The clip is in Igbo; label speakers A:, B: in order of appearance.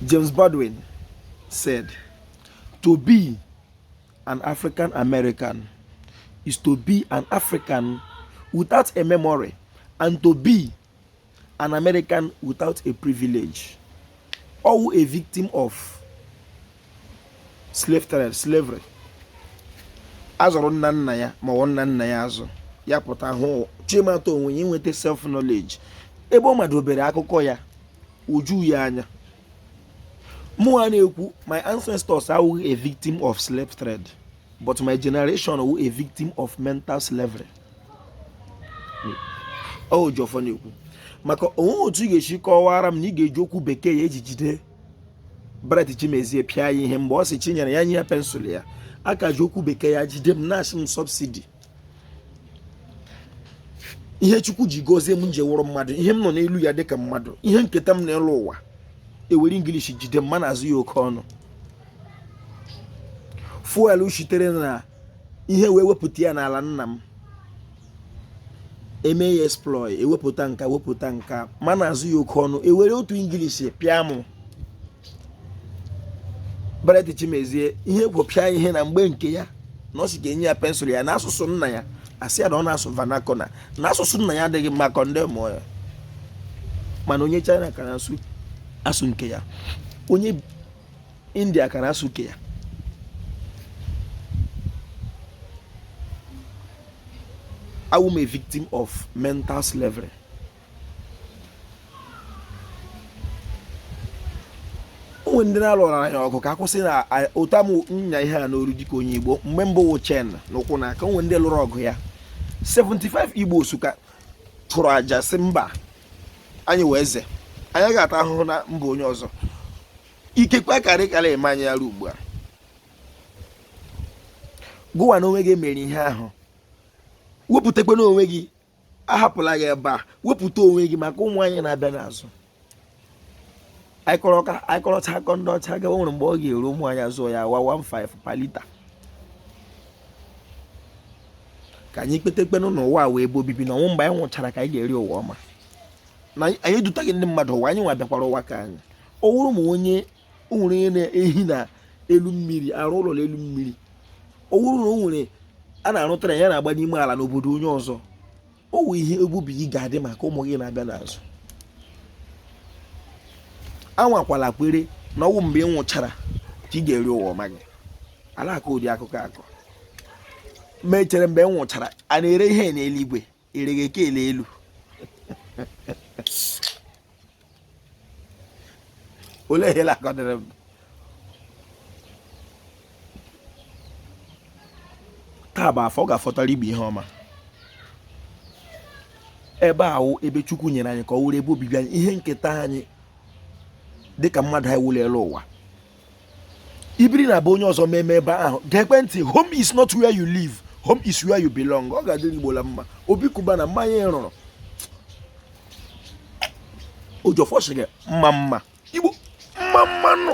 A: James Baldwin said, To be an African American is to be an African without a memory and to be an American without a privilege. Ọ wụ a victim of slavery. a zụrụ nna nna ya ma ọ wụ nna nna ya azụ ya pụta hụ chọ ịmata onwe ya inweta self knowledge ebe ọ madụ obere akụkọ ya o ju ya anya mụ a na-ekwu my ancestors awụghị a victim of slave trade but my generation wụ a victim of mental slavery o ji ọfọ na-ekwu maka o nweghị otu ị ga-esi kọwara m na ị ga-eji okwu bekee ya e ji jide Bright Chimezie pịa ya ihe mgbe ọ sị Chinyere ya nye ya pensụl ya a ka ji okwu bekee ya jide m na-asị m subsidy ihe chukwu ji gozie m m ji wụrụ mmadụ ihe m nọ n'elu ya dịka mmadụ ihe nketa m n'elu ụwa e were English jide m ma na-azụ ya oke ọnụ fuel sitere na ihe wee wepụta ya n'ala nna m eme ya exploit e wepụta nka wepụta nka ma na-azụ ya oke ọnụ e were otu English pịa mụ Bright Chimezie ihe gwopịa ihe na mgbe nke ya na ọ sị ka e nye ya pensụl ya n'asụsụ nna ya a sị ya na ọ na-asụ vernacular na asụsụ nna ya adịghị mma condemn ya mana onye China ka na-asụ nke ya onye India ka na-asụ nke ya awụ m a victim of mental slavery. o nwe ndị na-alụrụ anyị ọgụ ka a kwụsị na ụta m nya ihe a n'olu dịka onye igbo mgbe mbụ wụ chain na ụkwụ na aka o nwe ndị lụrụ ọgụ ya 75 Igbos ka chụrụ aja sị mba anyị wụ eze anyị ga-ata ahụhụ na mba onye ọzọ ikekwe karị karị eme anyị ya ruo ugbu a gụwa na onwe gị mere ihe ahụ wepụtakwa n'onwe gị ahapụla gị ebe a wepụta onwe gị maka ụmụ anyị na-abịa n'azụ anyị kọrọcha akọ ndị ọcha gawa nwere mgbe ọ ga-eru ụmụ anyị azụ ya wa 15 per liter ka anyị kwetekwanụ na ụwa awụghị ebe obibi na ọ wụ mgbe anyị nwụchara ka anyị ga-eri ụwa ọma na anyị edutaghị ndị mmadụ ụwa anyị nwa bịakwara ụwa ka anyị ọ wụrụ ma onye o nwere onye na-ehi na elu mmiri arụ ụlọ n'elu mmiri ọ wụrụ na o nwere a na-arụ train na-agba n'ime ala n'obodo onye ọzọ ọ wụ ihe ebe obibi gị ga-adị maka ụmụ gị na-abịa n'azụ anwakwala kwere na ọ wụ mgbe ị nwụchara ka ị ga-eri ụwa ọma gị ala akọ ụdị akụkọ akọ m echere mgbe m nwụchara a na-ere ihe n'eluigwe erighe kele elu olee ihe lakọdịrị m taa bụ afọ ọ ga-afọtara Igbo ihe ọma ebe ahụ ebe chukwu nyere anyị ka ọ wụrụ ebe obibi anyị ihe nketa anyị dịka mmadụ anyị wụ l'elu ụwa i biri na be onye ọzọ meme ebe ahụ geekwe ntị home is not where you live home is where you belong ọ ga-adịrị Igbo la mma obi cubana mmanya ị rụrụ oji ọfọ sị gị mma mma Igbo mma mma nụ